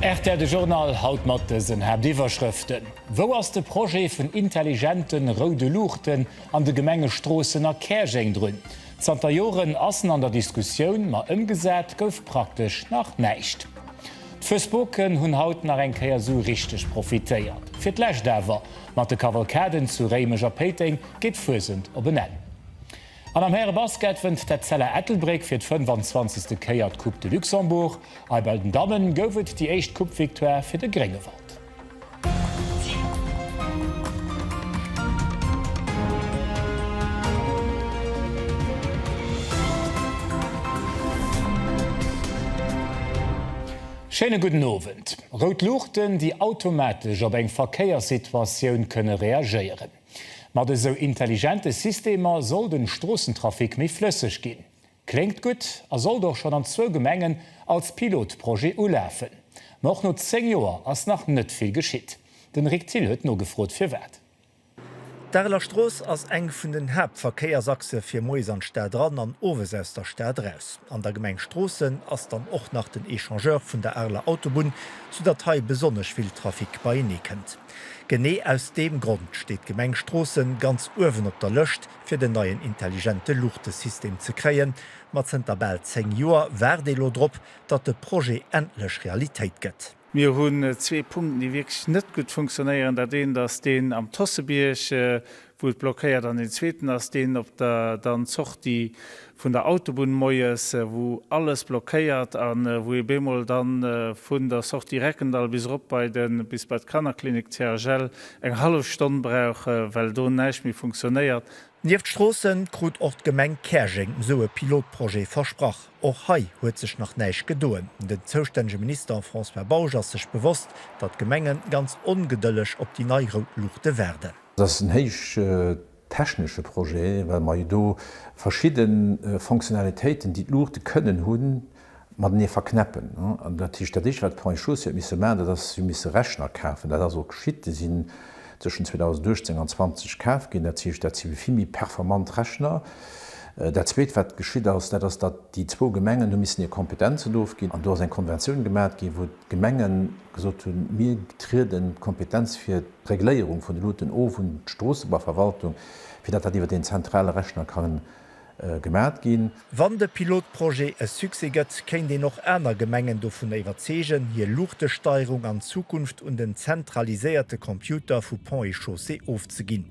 Rtl, de Journal haut mat dësen Haaptiwwerschrëften, Wou ass de Projet vun intelligente roude Luuchten an de Gemenge Stroossen a Käerjeng drun? Zanter Joren ass en an der Diskussioun, ma ëmgesat gouf praktesch nach näischt. D'Fuesboken hunn haut nach eng Kéier esou richteg profitéiert. Fir d'lescht awer, mat de Kavalkaden zu Réimech a Péiteng geet d'Fuesent op en Enn. An am Härebasket wënnt d'Etzella Ettelbréck fir d'fënfanzwanzegste Kéier d'Coupe de Luxembourg. Eibei den Dammen gouf et déi éischt Coupe-Victoire fir de Gréngewald. Schéine gudden Owend. Rout Luuchten, déi automatesch op eng Verkéierssituatioun kënne reagéieren. Mat esou intelligente Systemer soll den Stroossentrafic méi flësseg ginn. Kléngt gutt a sollt och schonn an zwou Gemengen als Pilotprojet ulafen. Ma och no 10 Joer ass nach net vill geschitt. Den Rick Thill huet nogefrot firwat. D'Areler Strooss ass eng vun den Haaptverkéiersachse fir moies an d'Stad eran an owes aus der Stad eraus. An der Gemeng Stroossen ass dann och nach den Echangeur vun der Areler Autobunn, sou datt hei besonnesch vill Trafic beienee kënnt. Genee aus deem Grond steet d'Gemeng Stroossen ganz uewen op der Lëscht, fir den neien intelligente Luuchtesystem ze kréien, ma zënter bal 10 Joer waart ee lo drop, datt de Projet endlech Realitéit gëtt. Mir hunn zwee Punkten, déi wierklech net gutt funktionéieren. Dat eent ass deen am Tossebierg, wou et blockéiert, an deen zweeten ass deen op der dann Sortie vun der Autobunn moies, wou alles blockéiert a wou ee bemol da vun der Sortie Reckendall bis erop bei de bis bei d'Kannerklinik CHL eng hallef Stonn brauch, well do näischt méi funktionéiert. Nieft Stroossen krut och d'Gemeng Käerjeng esou e Pilotprojet versprach. Och hei huet sech nach näischt gedoen. Den zoustännege Minister François Bausch ass sech bewosst, datt d'Gemenge ganz ongedëlleg op déi nei rout Luuchte waarden. Datt en héicht technesche Projet, well mer jo do verschidde Fonctionnalitéiten, déi d'Luuchte kënnen hunn, matenee verknäppen. Dat heescht, dat Éischte wat d'Pont-et-chaussée huet misse maachen, dat ass, si hu misse Rechner kafen. Dat ass och geschitt, déi sinn tëschent 2018 an 20 kaf ginn. Dat heescht, dat si vill méi performant Rechner. Dat Zweet wat geschitt ass, dat ass, datt déi zwou Gemengen hu missen hir Kompetenzen ofginn an do ass eng Konventioun gemat ginn, wou d'Gemengen gesot hunn, mir trieden d'Kompetenz fir, D'Regléierung vun de Luuten of un d'Stroossebaverwaltung, fir datt dat iwwer deen zentrale Rechner ka gemat ginn. Wann de Pilotprojet e Succès gëtt, kéint een och aner Gemengen dovun iwwerzeegen, hir Luuchtesteierung an Zukunft un den zentraliséierte Computer vu Ponts et Chaussées ofzeginn.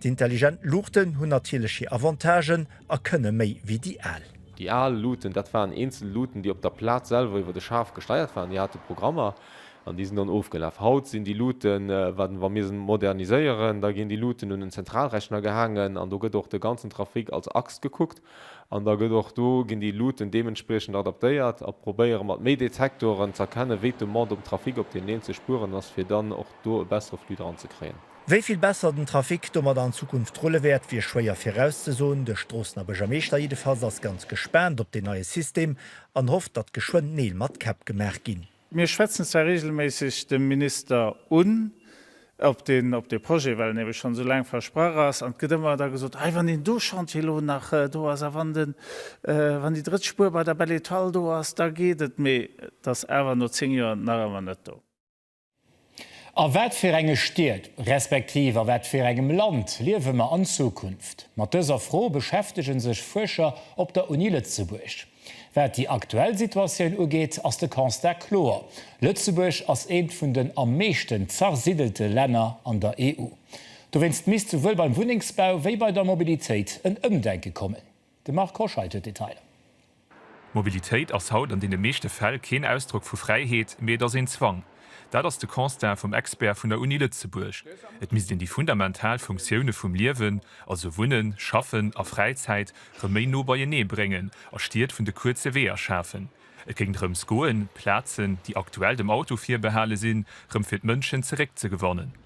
D'Intelligent Luuchten hunn natierlech hir Avantagen a kënne méi wéi déi al. Déi al Luuten, dat waren eenzel Luuten, déi op der Plaz selwer iwwer de Schaf gesteiert waren, déi hate Programmer. An déi sinn dann ofgelaf. Haut sinn déi Luuten, wat, wa mir se moderniséieren, da ginn déi Luuten un en Zentralrechner gehaangen an do gëtt och de ganzen Trafic als Axt gekuckt an da gëtt och do, ginn déi Luuten deementspriechend adaptéiert a probéiere mat méi Detektoren z'erkennen, wéi d'Demande um Trafic op deenen eenzele Spueren ass, fir dann och do e bessere Flux dran ze kréien. Wéi vill besser den Trafic domadder an Zukunft rulle wäert, wier schwéier virauszesoen. De Stroossener Buergermeeschter jiddefalls ass ganz gespaant op deen neie System an hofft, datt geschwënn Neel mat Käpp gemaach ginn. Mir schwätzen zwar reegelméisseg de Minister un, ob deen op dee Projet, well en ebe schonn esou laang versprach ass, an et gëtt ëmmer da gesot, Hei, wann deen do Chantier elo nach do ass a wann den, wann déi drëtt Spuer bei der Belle Etoile do ass, da geet et. Mee et ass awer no zéng Joer nach ëmmer net do. A wat fir enge Stied, respektiv a wat fir engem Land liewe mer an Zukunft? Mat dëser Fro beschäftege sech Fuerscher op der Uni Lëtzebuerg. Wat déi aktuell Situatioun ugeet, ass de Constat kloer, Lëtzebuerg ass eent vun den am meeschten zersidelte Länner an der EU. Dowéinst misst souwuel beim Wunnengsbau wéi bei der Mobilitéit en Ëmdenke kommen. De Marc Hoscheid huet d'Detailer. D'Mobilitéit ass haut an deene meeschte Fäll keen Ausdrock vu Fräiheet, mee et ass een Zwang. Dat ass de Constat vum Expert vun der Uni Lëtzebuerg. Et misst een déi fundamental Funktioune vum Liewen, also Wunnen, Schaffen a Fräizäit, rëm méi no beienee bréngen a Stied vun de kuerze Weeër schafen. Et géing drëms goen, Plazen, déi aktuell dem Auto virbehale sinn, rëm fir d'Mënschen zeréckzegewannen.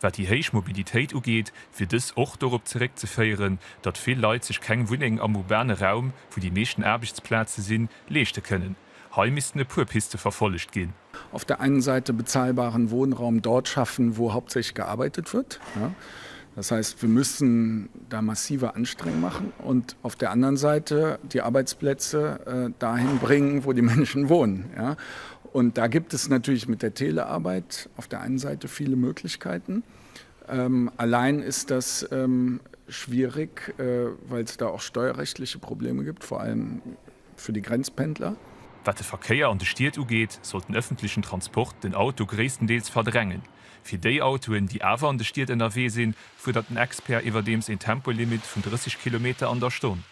Wat déi héich Mobilitéit ugeet, wier dës och dorop zeréckzeféieren, datt vill Leit sech keng Wunneng am urbane Raum, wou déi meeschten Aarbechtsplaze sinn, leeschte kënnen. Hei missten e puer Piste verfollegt ginn. Auf der einen Seite bezahlbaren Wohnraum dort schaffen, wo hauptsächlich gearbeitet wird. Das heißt, wir müssen da massive Anstrengungen machen und auf der anderen Seite die Arbeitsplätze dahin bringen, wo die Menschen wohnen. Und da gibt es natürlich mit der Telearbeit auf der einen Seite viele Möglichkeiten. Allein ist das schwierig, weil es da auch steuerrechtliche Probleme gibt, vor allem für die Grenzpendler. Wat de Verkéier an de Stied ugeet, sollt den öffentlichen Transport den Auto gréisstendeels verdrängen. Fir déi Autoen, déi awer an de Stied ënnerwee sinn, fuerdert den Expert iwwerdeems een Tempolimit vun 30 Kilometer an der Stonn.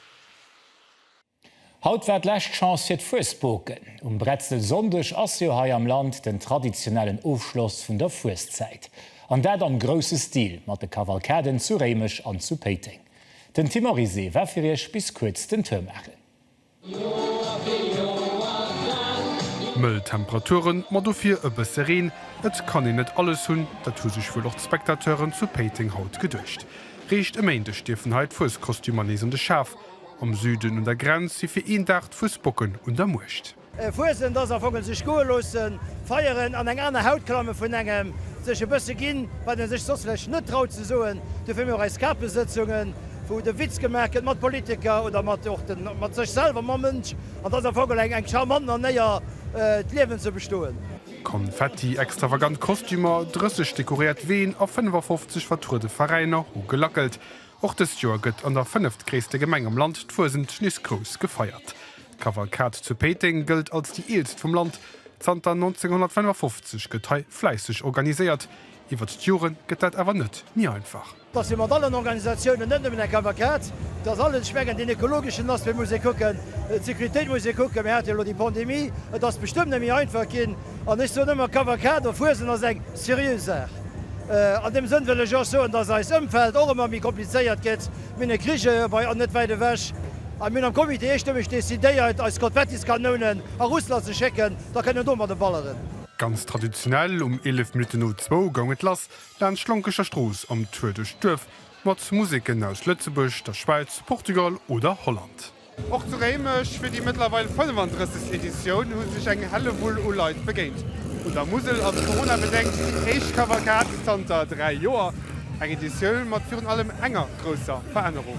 Haut war d'lescht Chance fir d'Fuesboken. Um Bretzelsonndeg ass jo hei am Land den traditionellen Ofschloss vun der Fueszäit. An dat am grousse Stil mat de Kavalkaden zu Réimech an zu Péiteng. Den Tim Oryse war fir iech bis kuerz den Tour maachen. Mëll Temperaturen, ma dofir e bësse Reen. Et kann een net alles hunn, dat hu sech wuel och d'Spectateuren zu Péiteng haut geduecht. Réischt e Méindeg dierfen hei d'Fueskostümer nees an de Schaf. Am Süden un der Grenz si fir een Dag d'Fussbocken un der Muecht. Fuesent ass am Fong e sech goe loossen, feieren, an eng aner Haut klamme vun engem, sech e bësse ginn, wat ee sech soss vläicht net traut ze soen. Dofir hu mir och eis Kapesëtzungen, wou de Witz gemaach gëtt mat Politiker oder mat och de mat sech selwer, mam Mënsch. An dat ass am Fong geholl eng charmant Manéier, d'Liewen ze bestoen. Konfetti, extravagant Kostümer, 30 dekoréiert Ween a 55 vertruede Veräiner hu gelackelt. Och dëst Joer gëtt an der fënneftgréisste Gemeng am Land d'Fuesent nees grouss gefeiert. D'Kavalkad zu Péiteng gëllt als déi eelst vum Land. Zanter 1955 gëtt hei fläisseg organiséiert. Iwwert d'Jore gëtt dat awer net méi einfach. Dass ee mat allen Organisatiounen, net nëmmen der Kavalkad, dass alles, ech mengen deen ekologeschen Aspect muss ee kucken, d'Sécuritéit muss ee kucken, mir hate jo elo déi Pandemie, et ass bestëmmt net méi einfach ginn. An ech soen ëmmer, Kavalkad op Fuesent ass eng seriö Saach. An deem Sënn wëll ech och soen, dass eist Ëmfeld och ëmmer méi komplizéiert gëtt. Mir hunn e Krich heiherbei an net wäit ewech. A mir hunn am Comité eestëmmeg decidéiert, eis Konfettiskanonen a Russland ze schécken, da kënnen do mat emballeren. Ganz traditionell um 11 Minutten no zwou goung et lass laanscht d'Lonkecher Strooss am Tour duerch d'Duerf mat Museken aus Lëtzebuerg, der Schwäiz, Portugal oder Holland. Och zu Réimech fir déi mëttlerweil 35. Editioun hu sech eng Hellewull u Leit begéint. Un der Musel ass Corona-bedéngt déi éischt Kavalkad zanter 3 Joer. Eng Editioun mat virun allem enger grousser Verännerung.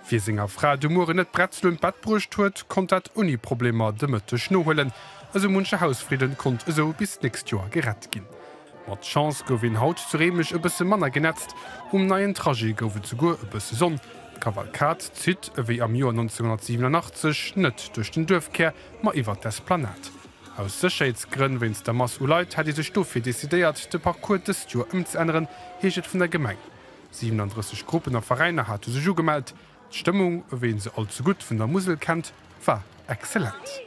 Wie senger Fra de Muere net Bretzelen un d'Bett bruecht huet, konnt dat ouni Problemer de Mëtteg nohuelen. Esou munche Hausfridden konnt esou bis d'nächst Joer gerett ginn. Mat Chance gouf een haut zu Réimech e bësse manner genetzt, um neien Trajet gouf et souguer e bësse Sonn. D'Kavalkad zitt, ewéi am Joer 1987, net duerch den Duerfkär, ma iwwert d'Esplanad. Aus Sécherheetsgrënn wéinst der Mass u Leit hätt ee sech dofir decidéiert, de Parcours dëst Joer ëmzeänneren, heescht et vun der Gemeng. 37 Gruppen a Veräiner hate sech ugemellt. D'Stëmmung, ewéi ee se allzegutt vun der Musel kennt, war excellent.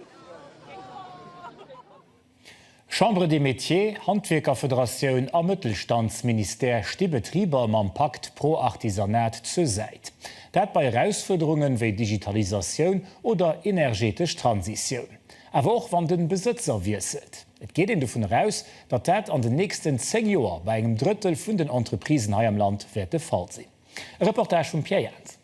Chambre des Métiers, Handwierkerfederatioun a Mëttelstandsministère sti Betriber mam Pakt pro Artisanat zur Säit. Dat bei Erausfuerderunge wéi Digitalisatioun oder energetesch Transitioun. Awer och wann de Besëtzer wiesselt. Et geet een dovun eraus, datt dat an den nächsten 10 Joer bei engem Drëttel vun den Entreprisen hei am Land wäert de Fall sinn. E Reportage vum Pierre Jans.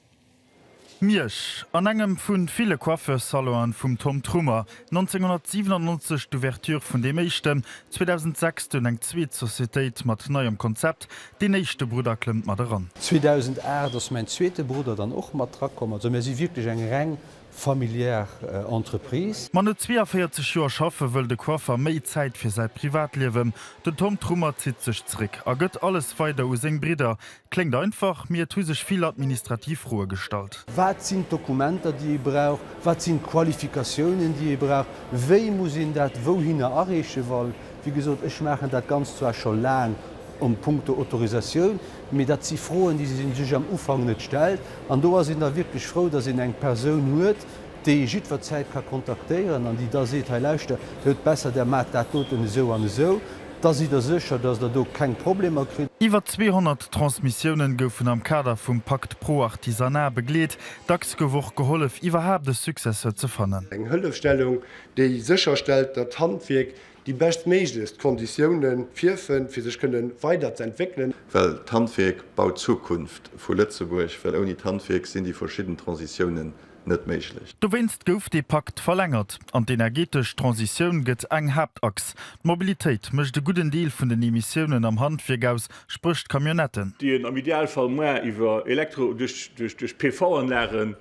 Miersch, an engem vu ville Coiffeurs-Salonen vum Tom Trummer, 1997 d'Ouverture vun deem éischten, 2006 dunn eng zweet Societéit mat neiem Konzept, deen éischte Brudder klëmmt mat eran. 2008 ass mäin zweete Brudder dann och mat dra komm. Also mär si wierklech eng reng familiär Entreprise. Ma no 42 Joer schaffe wëll de Coiffer méi Zäit fir säi Privatliewen. Den Tom Trummer zitt sech zeréck a gëtt alles weider u seng Bridder, Kléngt einfach, mee et hu sech vill administrativ Froe gestallt. Wat sinn d'Dokumenter, déi ee brauch? Wat sinn d'Qualifikatiounen, déi ee brauch? Wéi muss een dat wouhinner areeche? Well, wéi gesot, ech maachen dat Ganzt zwar scho laang a punkto Autorisatioun, mee dat si Froen, déi ee sech am Ufank net stellt. An do ass een da wierklech frou, datt een eng Persoun huet, déi jiddwerzäit ka kontaktéieren an déi da seet, hei lauschter, et huet besser, der maacht dat doten esou an esou, da sidd der sécher, datt der do keng Problemer kritt. Iwwer 200 Transmissiounen goufen am Kader vum Pacte pro Artisanat begleet. Dacks gouf och gehollef, iwwerhaapt e Successeur ze fannen. Eng Hëllefstellung, déi sécherstellt, datt d'Handwierk déi beschtméiglechst Konditioune virfënnt, fir sech kënne weiderzentwéckelen. Well d'Handwierk baut d'Zukunft vu Lëtzebuerg, well ouni d'Handwierk sinn déi verschidden Transitiounen net méiglech. Dowéinst gouf dee Pakt verlängert. An d'energeetesch Transitioun gëtt eng Haaptachs. D'Mobilitéit mécht e gudden Deel vun den Emissiounen am Handwierk aus, spréch d'Camionnetten. déi een am Idealfall muer iwwer Elektro duerch PV-Anlagen,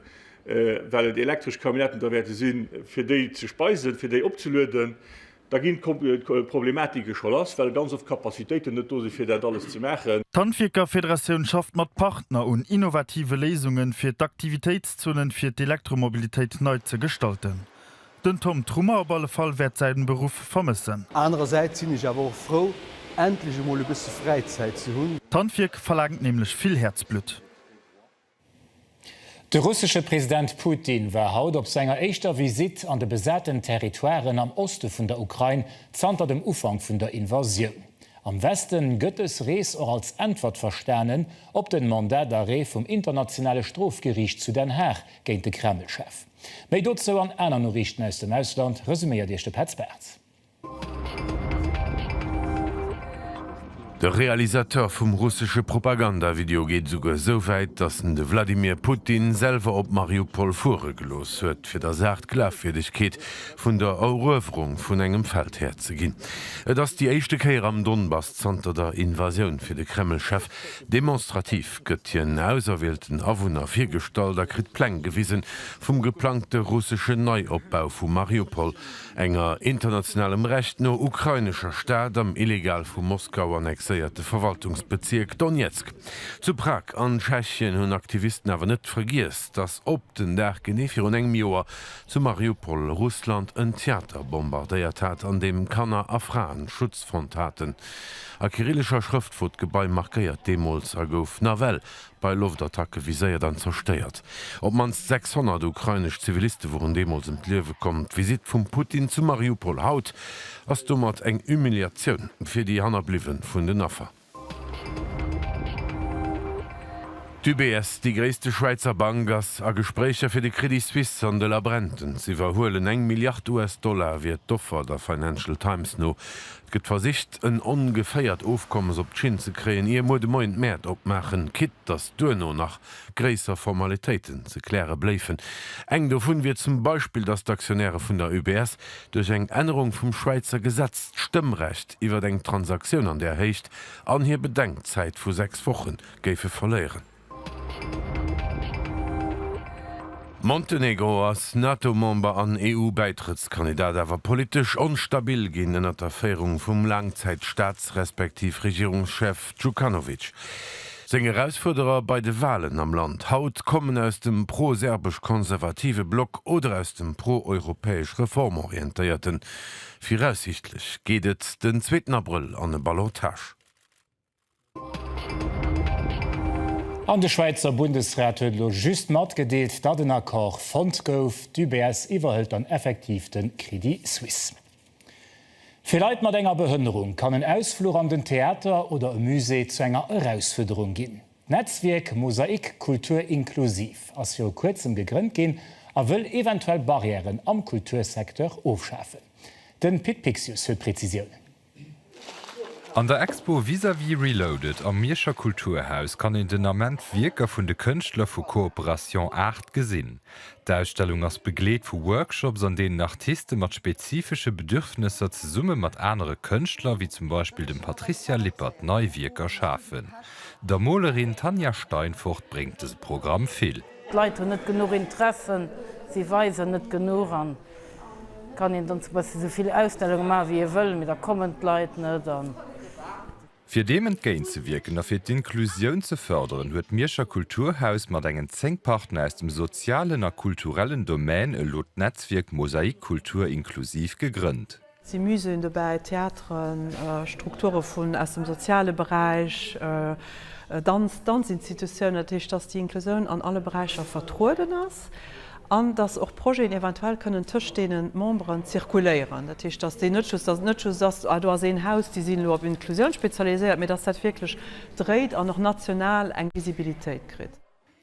well et elektresch Camionnetten da wäerte sinn, fir déi ze speisen, fir déi opzelueden, Da ginn d'Problematike scho lass, well ganz oft d'Capacitéiten net do sinn, fir dat alles ze maachen. D'Handwierkerfederatioun schafft mat Partner un innovative Léisungen, fir d'Aktivitéitszonen fir d'Elektromobilitéit nei ze gestalten. Den Tom Trummer op alle Fall wäert säin Beruff vermëssen. Anerersäits sinn ech awer och frou, endlech emol e bësse Fräizäit ze hunn. D'Handwierk verlaangt nämlech vill Häerzblutt. De russesche President Putin war haut op senger éischter Visitt an de besaten Territoiren am Oste vun der Ukrain zanter dem Ufank vun der Invasioun. Am Weste gëtt dës Rees och als Äntwert verstanen op den Mandat d'arrêt vum Internationale Strofgeriicht zu Den Haag géint de Kreml-Chef. Méi dozou an aner Noriichten aus dem Ausland resuméiert Iech de Petz Bartz. De Realisateur vum russesche Propaganda-Video geet esouguer esou wäit, datt en de Wladimir Putin selwer op Mariupol fuere gelooss huet, fir der Saach d'Glafwierdegkeet vun der Eruewerung vun engem Feld herzeginn. Et ass déi éischte Kéier am Donbass zanter der Invasioun. Fir de Kreml-Chef demonstrativ gëtt hien auserwielten Awunner virgestallt a kritt Pläng gewisen vum geplangte russesche Neiopbau vu Mariupol, enger internationalem Recht no ukrainescher Stad am illegal vu Moskau annexéierte Verwaltungsbezierk Donezk. Zu Prag an Tschechien hunn Aktivisten awer net vergiess, datt op den Dag genee virun engem Joer zu Mariupol Russland en Theater bombardéiert hat, an deem Kanner a Fraen Schutz fonnt haten. A kyrillescher Schrëft wor d'Gebai markéiert deemools a gouf nawell bei Loftattacke viséiert an zerstéiert. Op d'mannst 600 ukrainesch Ziviliste woren deemools ëm d'Liewe komm. D'Visitt vum Putin zu Mariupol haut ass domat eng Humiliatioun fir déi Hannerbliwwe vun den Affer. D'UBS, déi gréisste Schwäizer Bank, ass a Gespréicher fir de Crédit Suisse an de Labrenten z'iwwerhuelen. Eng Milliard US-Dollar wier d'Offer, der Financial Times no. Gëtt versicht en ongeféiert Ofkommes op d'Schinn ze kréien ier muer de Moien d'Mäert opmaachen, quitt datt duerno nach gréisser Formalitéiten ze kläre bléifen. Eng dovun wier zum Beispill, datt d'Aktionäre vun der UBS duerch eng Ännerung vum Schwäizer Gesetz d'Stëmmrecht iwwert eng Transaktioun an där Héicht an hir Bedenkzäit vu sechs Wochen géife verléieren. Montenegro ass NATO-Member an EU-Bäitrëttskandidat, awer politesch onstabil ginn ënnert der Féierung vum Laangzäit-Staats respektiv Regierungschef Djukanovic. Seng Erausfuerderer bei de Walen am Land haut kommen aus dem pro-serbesch-konservative Block oder aus dem pro-europäesch reformorientéierten. Viraussiichtlech geet et den zweeten Abrëll an e Ballottage. An de Schwäizer Bundesrat huet elo just matgedeelt, datt en Accord fonnt gouf. D'UBS iwwerhëlt dann effektiv de Crédit Suisse. Fir Leit mat enger Behënnerung kann en Ausfluch an den Theater oder e Musée zu enger Erausfuerderung ginn. D'Netzwierk Mosaik Kultur Inklusiv ass viru kuerzem gegrënnt ginn a wëll eventuell Barrièren am Kultursecteur ofschafen. Den Pit Pixius huet Präzisiounen. An der Expo Vis-à-vis Reloaded am Mierscher Kulturhaus kann een den Ament Wierker vun de Kënschtler vu Cooperation Art gesinn. D'Ausstellung ass begleet vu Workshops an deenen Artiste mat spezifesche Bedürfnesser zesumme mat anere Kënschtler wéi zum Beispill dem Patricia Lippert nei Wierker schafen. Der Molerin Tanja Steinfort bréngt dëse Programm vill. D'Leit hunn net genuch Interessen, si weisen net genuch an Kann een dann zum Beispill esou vill Ausstellungen maachen wéi ee wëll, mee da kommen d'Leit net. Fir deem entgéint ze wierken a fir d'Inklusioun ze fërderen, huet d'Mierscher Kulturhaus mat engen 10 Partner aus dem sozialen a kulturellen Domän elo d'Netzwierk Mosaik Kultur Inklusiv gegrënnt. Si Muséeën dobäi, Theateren, Strukture vun aus dem soziale Beräich, Danz, Danzinstitutiounen. Dat heescht, dass déi Inklusioun an alle Beräicher vertrueden ass an dass och Projeten eventuell kënnen tëscht deene Memberen zirkuléieren. Dat heescht, dass déi net just, dass et net just ass, ah do ass een Haus, déi sinn elo op Inklusioun spezialiséiert, mee dass dat wierklech dréit an och national eng Visibilitéit kritt.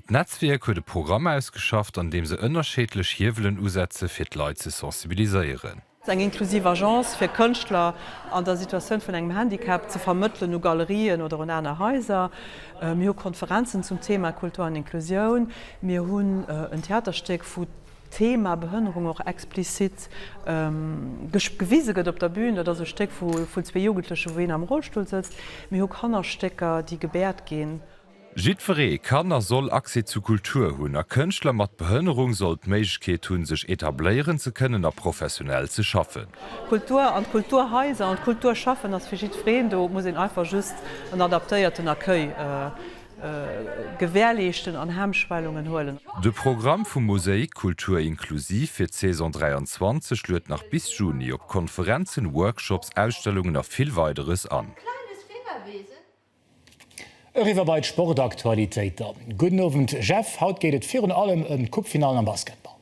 D'Netzwierk huet e Programm ausgeschafft, an deem se ënnerscheedlech Hiewelen usetze fir d'Leit ze sensibiliséieren. Eng inklusiv Agence fir Kënschtler an der Situatioun vun engem Handicap ze vermëttelen u Galerien oder un aner Haiser. Mir hu Konferenzen zum Thema Kultur an Inklusioun. Mir hunn en Theaterstéck, wou d'Thema Behënnerung och explizit gewise gëtt op der Bün. Dat ass e Stéck vun zwee Jugendlechen, wou een am Rollstull sëtzt. Mir hu Kannerstécker, déi gebäert ginn. Jiddweree kann a soll Accès zu Kultur hunn a Kënschtler mat Behënnerung soll d'Méiglechkeet hunn, sech etabléieren ze kënnen a professionell ze schaffen. D'Kultur an d'Kulturhaiser an d'Kulturschaffen ass fir jiddwereen do. Et muss een einfach just en adaptéierten Accueil gewährleeschten an Hemmschwellungen huelen. De Programm vum Mosaïk Kultur inklusiv fir d'Saison 23 luet nach bis Juni op Konferenzen, Workshops, Ausstellungen a vill Weideres an. Eriwwer bei d'Sportaktualitéiter. Gudden Owend Jeff, haut geet et virun allem ëm d'Coupefinallen am Basketball.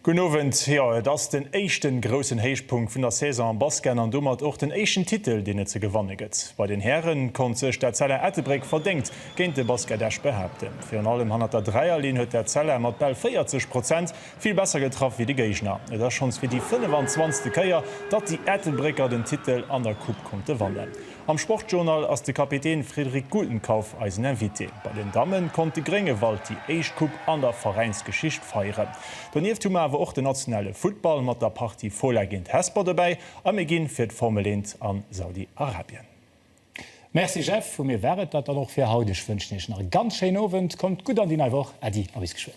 Gudden Owend, jo et ass den éischten groussen Héichpunkt vun der Saison am Basken an domat och den éischten Titel deen et ze gewanne gëtt. Bei den Hären konnt sech d'Etzella Ettelbréck verdéngt géint de Basket Esch behaapten. Virun allem hannert der Dräierlinn huet d'Etzella mat bal 40 Prozent vill besser getraff wéi de Géigner. Et ass schonns fir déi 25. Kéier, datt déi Ettelbrécker den Titel an der Coupe konnte wannen. Am Sportjournal ass de Kapitän Frédéric Gutenkauf eisen Invité. Bei den Dammen konnt de Gréngewald déi éischt Coupe an der Veräinsgeschicht feieren. Donieft hu mer awer och den nationale Futtball mat der Partie Fola géint Hesper dobäi a mir ginn fir d'Formel eent an Saudi Arabien. Merci Jeff, vu mir war et dat dann och fir haut. Ech wënschen Iech nach e ganz schéinen Owend, kommt gutt an déi nei Woch. Äddi a bis geschwënn.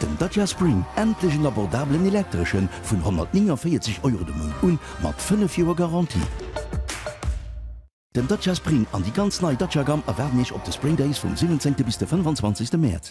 Den Dacia Spring, endlech en abordabelen Elektreschen, vun 149 Euro de Mount un, mat 5 Joer Garantie. Den Dacia Spring an déi ganz nei Dacia-Gamm erwaarden Iech op de Spring Days vum 17 bis de 25 Mäerz.